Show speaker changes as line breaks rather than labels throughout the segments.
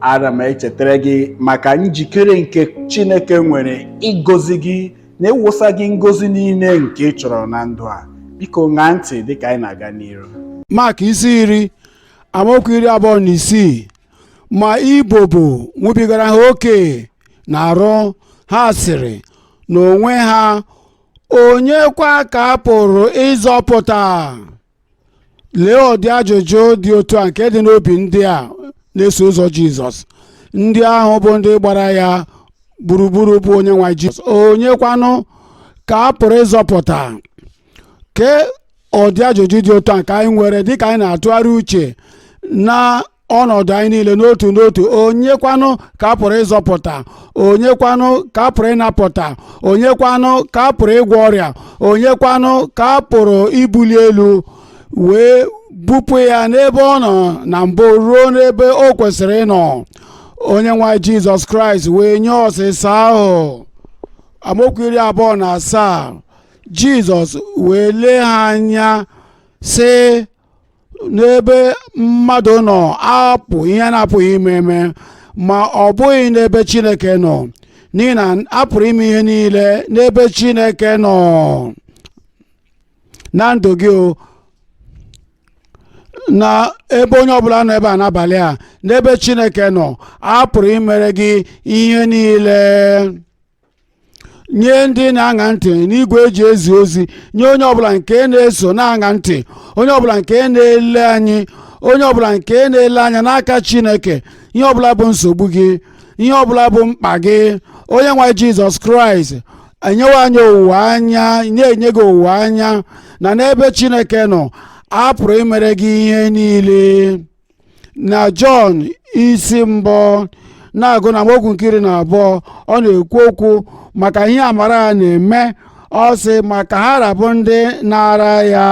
ana m echetara gị maka njikere nke chineke nwere ịgọzi gị na ịwụsa gị ngọzi niile nke ị chọrọ na ndụ a biko ṅaa ntị dịka anyị na-aga n'iru mak isi
iri amaokwu iri abụọ na isii ma ibobo nwubigara ha oke n'arụ ha sịrị n'onwe ha onye kwa ka a pụrụ ịzọpụta lee ụdị ajụjụ dị otu a nke dị n'obi ndị a na-eso ụzọ jizọs ndị ahụ bụ ndị gbara ya gburugburu bụ onye nwe jizọs onye kwanụ ka a pụrụ ịzọpụta ke ụdị ajụjụ dị otu a nke anyị nwere dịka anyị na-atụgharị uche na ọnọdụ anyị niile n'otu n'otu onye kwanụ ka a pụrụ ịzọpụta onye kwanụ ka a pụrụ ịnapụta onye kwanụ ka a pụrụ ịgwọ ọrịa onye kwanụ ka a pụrụ ibuli elu wee bupụ ya n'ebe ọ nọ na mbụ ruo n'ebe o kwesịrị ịnọ onye nwe jizọs kraịst wee nye ọsịsa ahụ amaokwu iri abụọ na asaa jizọs wee lee ha anya sị n'ebe mmadụ nọ ọ bụ ihe a na-apụghị ime eme ma ọ bụghị n'ebe chineke nọ n'ihi na a pụrụ ime ihe niile n'ebe chineke nọ na ndụ gị o n'ebe onye ọbụla nọ ebe a n'abalị a n'ebe chineke nọ a pụrụ imere gị ihe niile nye ndị na-aṅa ntị n'igwe e ji ezi ozi nye onye ọbụla nke na-eso na-aṅa ntị onye ọbụla nke na-ele anyị onye ọbụla nke na-ele anya n'aka chineke ihe ọbụla bụ nsogbu gị ihe ọbụla bụ mkpa gị onye nwe jizọs kraịst enyewo anyị owuwe anya na-enye gị owuwe anya na n'ebe chineke nọ a pụrụ imere gị ihe niile na jọn isi mbụ na-agụ n'amaokwu nke iri na abụọ ọ na-ekwu okwu maka ihe amara ya na-eme ọ sị ma ka ha ra bụ ndị naara ya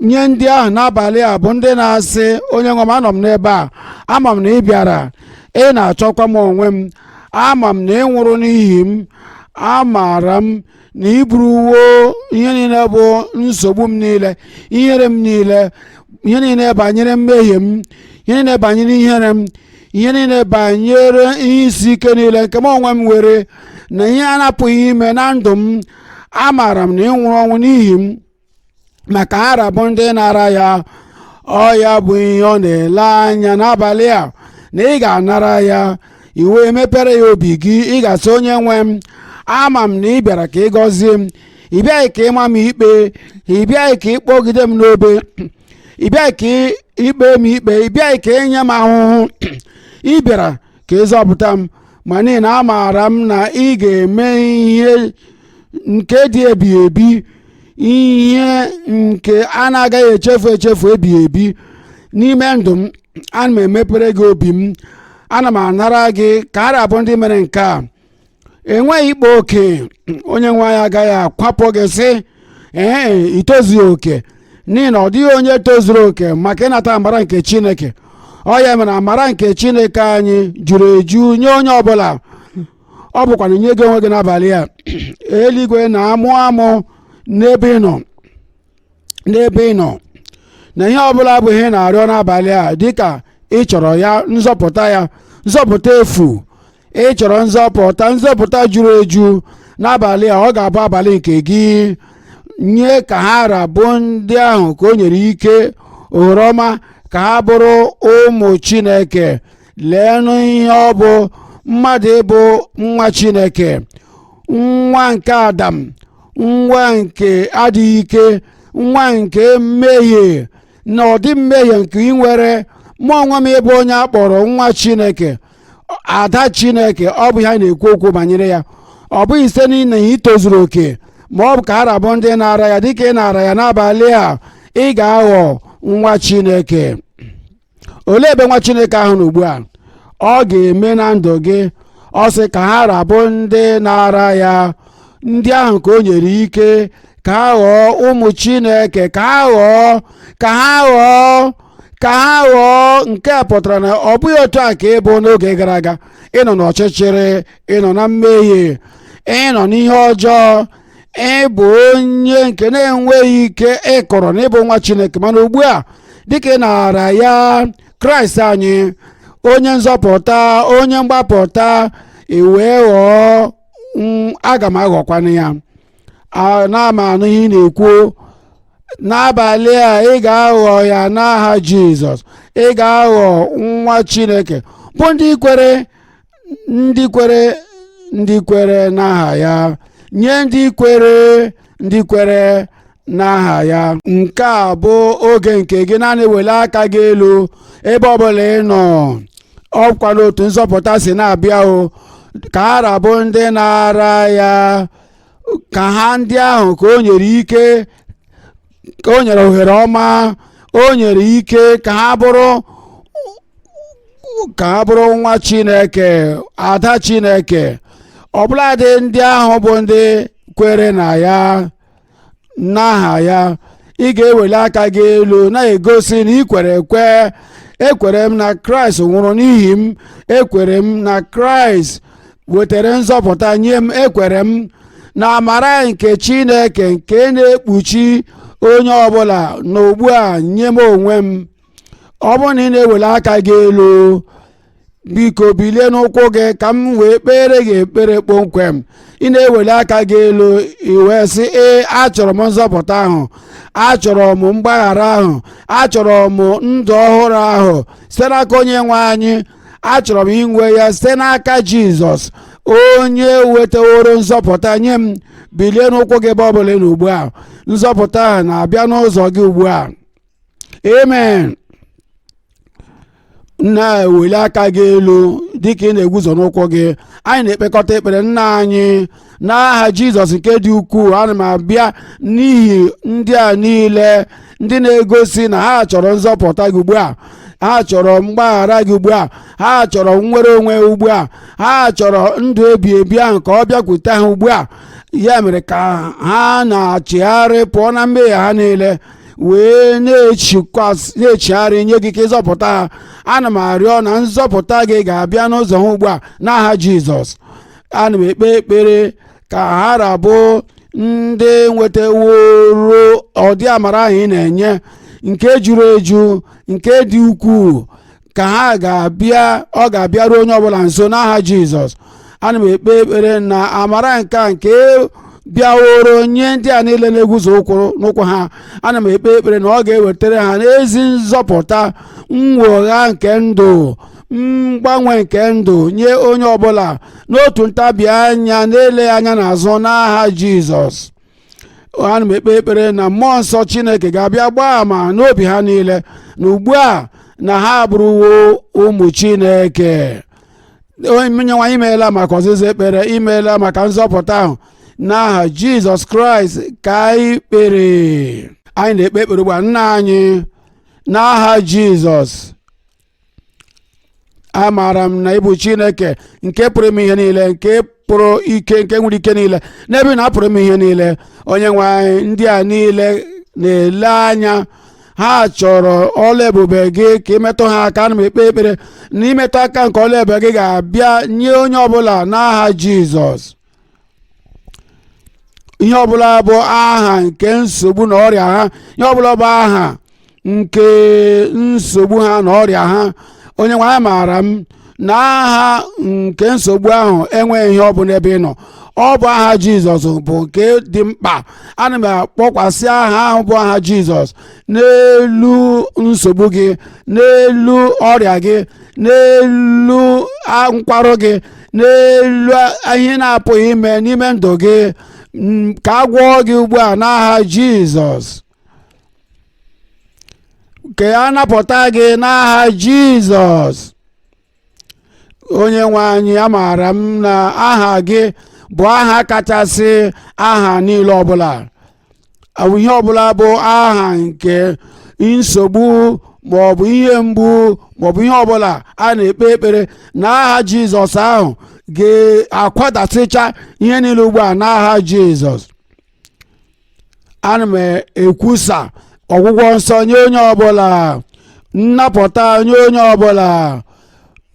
nye ndị ahụ n'abalị a bụ ndị na-asị onye nwe m anọ m n'ebe a ama m na ị bịara ị na-achọkwa m onwe m ama m na ị nwụrụ n'ihi m amaara m na i buruwo ihe niile bụ nsogbu m niile ihere m niile ihe niile banyere mmehie m ihe niile banyere ihere m ihe niile banyere ihe isi ike niile nke m onwe m nwere na ihe a na-apụghị ime na ndụ m amaara m na ị nwụrụ ọnwụ n'ihi m ma ka ha ra bụ ndị nara ya ọ ya bụ ihe ọ na-ele anya n'abalị a na ị ga-anara ya i wee mepere ya obi gị ị ga-asị onye nwe m ama m na ị bịara ka ị gọzie m ị bịaghị ka ịma m ikpe ị bịaghị ka ịkpọgide m n'obe ị bịaghị ka ikpe m ikpe ị bịaghị ka inye m ahụhụ ị bịara ka ịzọpụta m ma n'ihi na amaara m na ị ga-eme ihe nke dị ebighị ebi ihe nke a na-agaghị echefu echefu ebighị ebi n'ime ndụ m ana m emepere gị obi m ana m anara gị ka ha ra bụ ndị mere nke a enweghị ịkpa oke onye nwe anyị agaghị akwapụ gị sị ee i tozughị oke n'ihi na ọ dịghị onye tozuru oke maka ịnata amara nke chineke ọ ya mere amara nke chineke anyị juru eju nye onye ọbụla ọ bụkwanụ nye gị onwe gị n'abalị a eluigwe na-amụ amụ n'ebe ị nọ n'ebe ị nọ na ihe ọbụla bụ ihe ị na-arịọ n'abalị a dịka ị chọrọ ya nzọpụta ya nzọpụta efu ị chọrọ nzọpụta nzọpụta juru eju n'abalị a ọ ga-abụ abalị nke gị nye ka ha ra bụ ndị ahụ ka o nyere ike ohere ọma ka ha bụrụ ụmụ chineke leenụ ihe ọ bụ mmadụ ịbụ nwa chineke nwa nke adam nwa nke adịghị ike nwa nke mmehie na ụdị mmehie nke ị nwere mụ onwe m ịbụ onye a kpọrọ nwa chineke ada chineke ọ bụ ihe a na-ekwu okwu banyere ya ọ bụghị site n'ihi na ị tozuru oke ma ọ bụ ka ha ra bụ ndị naara ya dịka ị naara ya n'abalị a ị ga-aghọ nwa chineke olee ebe nwa chineke ahụ nọ ugbu a ọ ga-eme na ndụ gị ọ sị ka ha ra bụ ndị naara ya ndị ahụ ka o nyere ike ka ha ghọọ ụmụ chineke ka ha ghọọ ka ha ghọọ ka ha ghọọ nke a pụtara na ọ bụghị otu a ka ị bụ n'oge gara aga ị nọ n'ọchịchịrị ị nọ na mmehie ị nọ n'ihe ọjọọ ị bụ onye nke na-enweghị ike ịkọrọ na ị bụ nwa chineke mana ugbu a dịka ị naara ya kraịst anyị onye nzọpụta onye mgbapụta i wee ghọọ mm aga m aghọkwanụ ya ana m anụ ihe ị na-ekwu n'abalị a ị ga-aghọ ya n'aha jizọs ị ga-aghọ nwa chineke bụ ndị kwere ndị kwere ndị kwere n'aha ya nye ndị kwere ndị kwere n'aha ya nke a bụ oge nke gị naanị wele aka gị elu ebe ọbụla ị nọ ọkwa n'otu nzọpụta si na-abịa o ka ha ra bụ ndị nara ya ka ha ndị ahụ ka o nyere ike ka o nyere ohere ọma o nyere ike ka ha bụrụ nwa chineke ada chineke ọbụladị ndị ahụ bụ ndị kwere na ya n'aha ya ị ga-eweli aka gị elu na-egosi na ị kwere ekwe ekwere m na kraịst nwụrụ n'ihi m ekwere m na kraịst wetara nzọpụta nye m ekwere m na amara nke chineke nke na-ekpuchi onye ọbụla na ugbu a nye m onwe m ọ bụrụ na ị na-eweli aka gị elu biko bilie n'ụkwụ gị ka m wee kpeere gị ekpere kpọmkwem ị na-eweli aka gị elu i wee sị ee achọrọ m nzọpụta ahụ achọrọ m mgbaghara ahụ achọrọ m ndụ ọhụrụ ahụ site n'aka onye nwe anyị achọrọ m inwe ya site n'aka jizọs onye wetaworo nzọpụta nye m bilie n'ụkwụ gị ebe ọ bụla ị nọ ugbu a nzọpụta ahụ na-abịa n'ụzọ gị ugbu a amen na-eweli aka gị elu dịka ị na-eguzo n'ụkwụ gị anyị na-ekpekọta ekpere nna anyị n'aha jizọs nke dị ukwuu ana m abịa n'ihi ndị a niile ndị na-egosi na ha chọrọ nzọpụta gị ugbu a ha chọrọ mgbaghara gị ugbu a ha chọrọ nnwere onwe ugbu a ha chọrọ ndụ ebi ebi ahụ ka ọ bịakwute ha ugbu a ya mere ka ha na-echigharị pụọ na mmehie ha niile wee na-echigharị nye gị ka ị zọpụta ha ana m arịọ na nzọpụta gị ga-abịa n'ụzọ ha ugbu a n'aha jizọs ana m ekpe ekpere ka ha ra bụ ndị nwetaworo ọdị amara ahụ ị na-enye nke juru eju nke dị ukwuu ka ha ga-abịa ọ ga-abịaru onye ọbụla nso n'aha jizọs ana m ekpe ekpere na amara nke a nke bịaworo nye ndị a niile na-eguzo n'ụkwụ ha ana m ekpe ekpere na ọ ga-ewetara ha ezi nzọpụta nnwogha nke ndụ mgbanwe nke ndụ nye onye ọbụla n'otu ntabi anya na-eleghị anya n'azụ n'aha jizọs ana m ekpe ekpere na mmụọ nsọ chineke ga-abịa gbaa ama n'obi ha niile na ugbu a na ha abụrụwo ụmụ chineke onyenwe anyị imeela maka ọzịza ekpere imeela maka nzọpụta ahụ n'aha jizọs kraịst ka anyị kpere anyị na-ekpe ekpere ugbu a nna anyị n'aha jizọs amaara m na ị bụ chineke nke pụrụ ime ihe niile nke pụrụ ike nke nwere ike niile n'ebe ị nọ a pụrụ ime ihe niile onye nwe anyị ndị a niile na-ele anya ha chọrọ ọlụ ebube gị ka i metụ ha aka ana m ekpe ekpere na imetụ aka nke ọlụ ebube gị ga-abịa nye onye ọbụla n'aha jizọs ihe ọbụla bụ aha nke nsogbu na ọrịa ha ihe ọbụla bụ aha nke nsogbu ha na ọrịa ha onye nwe anyị amaara m na aha nke nsogbu ahụ enweghị ihe ọ bụ n'ebe ị nọ ọ bụ aha jizọs bụ nke dị mkpa ana m akpọkwasị aha ahụ bụ aha jizọs n'elu nsogbu gị n'elu ọrịa gị n'elu nkwarụ gị n'elu ihe na-apụghị ime n'ime ndụ gị ka a gwọọ gị ugbu a n'aha jizọs ka a napụta gị n'aha jizọs onye nwe anyị amaara m na aha gị bụ aha kachasị aha niile ọbụla ọ bụ ihe ọbụla bụ aha nke nsogbu ma ọ bụ ihe mgbu ma ọ bụ ihe ọbụla a na-ekpe ekpere na aha jizọs ahụ ga-akwadasịcha ihe niile ugbu a n'aha jizọs ana m ekwusa ọgwụgwọ nsọ nye onye ọbụla nnapụta nye onye ọbụla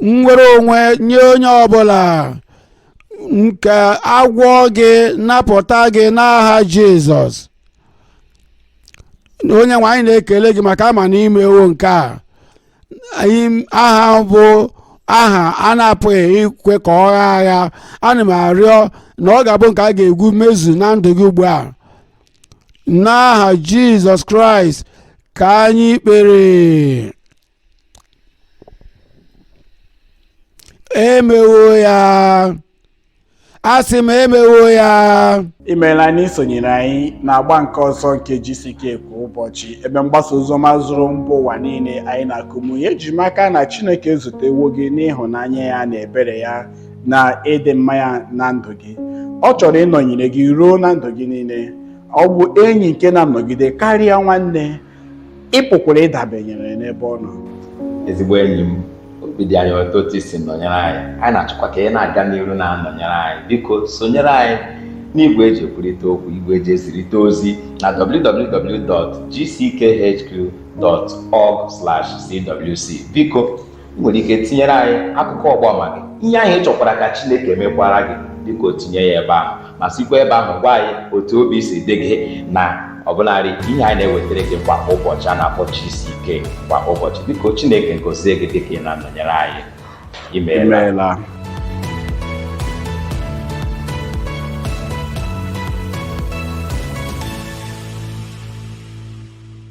nnwere onwe nye onye ọbụla ka a gwọọ gị napụta gị n'aha jizọs onye nwe anyị na-ekele gị maka ama na i mewo nke a aha bụ aha a na-apụghị ikwe ka ọ gha agha ana m arịọ na ọ ga-abụ nke a ga-egwu mezu na ndụ gị ugbu a n'aha jizọs kraịst ka anyị kpere emewo ya asị m emewo ya imeela na
i sonyere anyị n'agba nke ọzọ nke GCK kwa ụbọchị ebe mgbasa oziọma zuru mba ụwa niile anyị na Kumuyi eji m aka na Chineke ezutewo gị n'ịhụnanya ya na ebere ya na ịdị mma ya na ndụ gị ọ chọrọ ịnọnyere gị ruo na ndụ gị niile ọ bụ enyi nke na-anọgide karịa nwanne ị pụkwara ịdabenyere n'ebe ọ nọ ezigbo
enyi m obi dị anyị ụtọ otu i si nọnyere anyị anyị na-achọkwa ka ị na-aga n'iru na-anọnyere anyị biko sonyere anyị n'igwe eji ekwurịta okwu igwe eji ezirịta ozi na www.gckhq.org/cwc biko ị nwere ike tinyere anyị akụkọ ọgbaama gị ihe ahụ ị chọkwara ka chineke mekwara gị biko tinye ya ebe ahụ ma sikwa ebe ahụ gwa anyị otu obi si dị gị na ọbụlarị ihe anyị na-ewetara gị kwa ụbọchị a na-akpọ gck kwa ụbọchị biko chineke gozie gị dịka ị na-anọnyere anyị imeela imeela